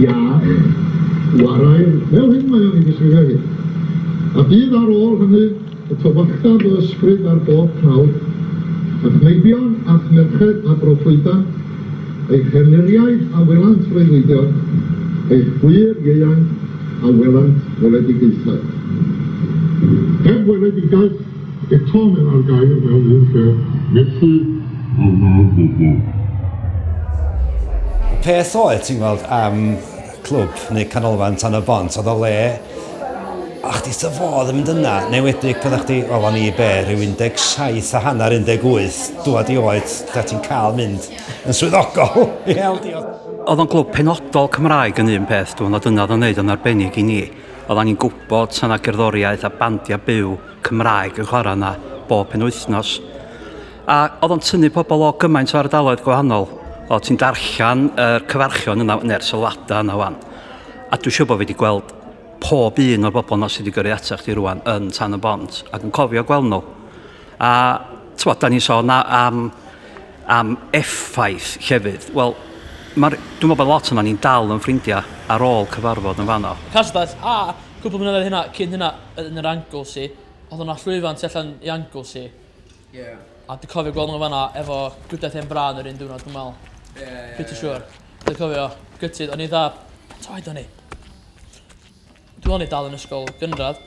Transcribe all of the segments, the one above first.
Ia, chwarae fel hyn mae o'n ei ddisgrifio hi. A bydd ar ôl hynny y tywyllta fy ysbryd ar bob prawf, a'ch meibion a'ch merched a broffwydan, eich hernyriaid a welant freuddwydion, eich gwŷr ieuainc a welant weledigaethau. Heb weledigaeth Eto mae 'na'r gair mewn un lle, methu a wna'r bobl. Y peth oedd, ti'n gweld, am clwb neu canolfan tan y bont, oedd o le a chdi dy fodd yn mynd yna, neu wedi pydda chdi, wel o'n i be, rhyw 17 a hanner, 18, dwad i oed, da ti'n cael mynd yn swyddogol. oedd o'n glwb penodol Cymraeg yn un peth, dwi'n meddwl, dyna oedd o'n neud o'n arbennig i ni. Oedd angen gwybod, sa na gerddoriaeth a bandiau byw. Cymraeg yn chwarae yna bob penwythnos. A oedd o'n tynnu pobl o gymaint o ardaloedd gwahanol. O, ti'n darllen y uh, cyfarchion yna, neu'r sylwadau yna wan. A dwi'n siŵr bod fi wedi gweld pob un o'r bobl yna sydd wedi gyrru atach chi rwan yn tan y bont ac yn cofio gweld nhw. A, ti'n bod, da ni'n sôn am, am effaith llefydd. Wel, Mae'r, dwi'n meddwl bod lot yna ni'n dal yn ffrindiau ar ôl cyfarfod yn fanno. Castell, a cwpl mlynedd hynna, cyn hynna, yn yr Anglesey odd yna llwyfan tu allan i Anglesey. Ie. A dwi cofio gweld n'w fanna efo gwydedd hen brân yr un diwrnod dwi me'wl. Ie ie ie. Pretty sure. Dwi cofio gytid o'n i dda t' oed o'n i? Dwi o'n i dal yn ysgol gynradd.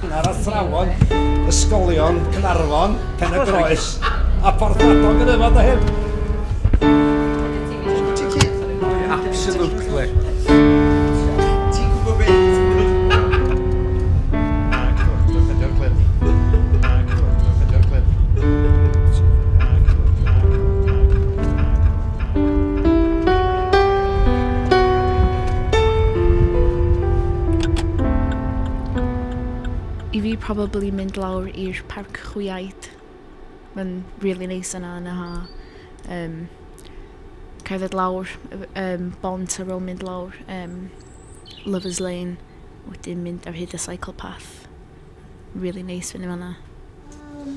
Cynnar Athrawon Ysgolion Caernarfon, Pen-y-groes a Porthmadog yn aelod o hyn. Absolutely. Ti'n gwybod beth? I fi probably mynd lawr i'r parc chwiaid. Mae'n rili neis yna yn y ha. Yym, cerdded lawr y f- yym bont ar ôl mynd lawr yym Lovers Lane, wedyn mynd ar hyd y cycle path. Rili neis fyny fan 'na. Yym.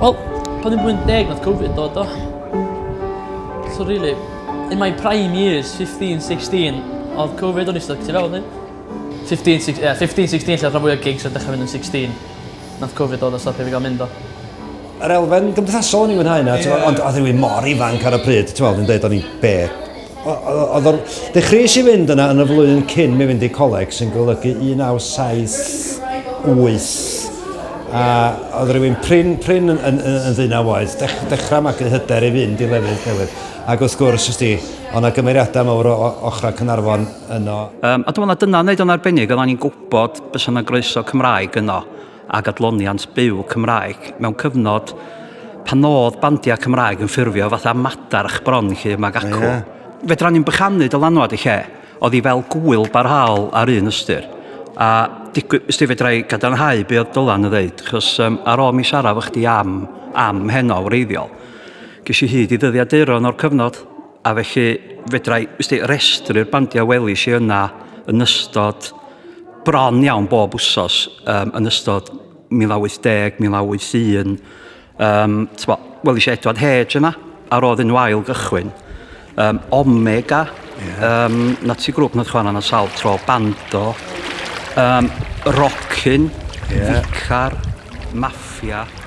Wel, pan o'n i'n blwyddyn deg nath Covid dod do? So rili in my prime years fifteen sixteen odd Covid o'n i styc tu fewn i. Fifteen six- ie fifteen sixteen lle odd rhan fwya gigs yn dechra mynd yn sixteen. Nath Covid dod a stopio fi ga'l mynd do? Yr elfen gymdeithasol o'n i'n mwynhau yna, yeah. ond oedd rhywun mor ifanc ar y pryd, ti'n meddwl, yn dweud o'n i'n be. Oedd o'n dechreuais i fynd yna yn y flwyddyn cyn mi fynd i coleg, sy'n golygu 1978 a oedd rhywun prin, prin yn, yn, yn, yn ddyn a oedd, dech, dechrau magu hyder i fynd i lefydd newydd. Ac wrth gwrs, ys di, ond na gymeriadau mawr o, o ochrau Cynarfon yno. Um, a dwi'n meddwl dyna wneud o'n arbennig, oedden ni'n gwybod bys yna groeso Cymraeg yno. ag adloniant byw Cymraeg mewn cyfnod pan oedd bandiau Cymraeg yn ffurfio fatha madarch bron lle mae gacw. Yeah. Fedra ni'n bychanu dylanwad y lle, oedd hi fel gwyl barhaol ar un ystyr. A digwy, ysdi fedra i gadarnhau be oedd Dylan yn ddeud, chos um, ar ôl mi siarad fo chdi am, am heno wreiddiol, ges i hyd i ddyddiaduron o'r cyfnod. A felly fedra i ysdi, restru'r bandiau welis i yna yn ystod bron iawn bob wsos um, yn ystod 1980, 1981. Um, tbo, wel, eisiau Edward Hedge yna, a roedd yn wael gychwyn. Um, Omega, yeah. um, na ti grwp nad chwan yna sawl tro, Bando, um, Rockin, yeah. Vicar, Mafia.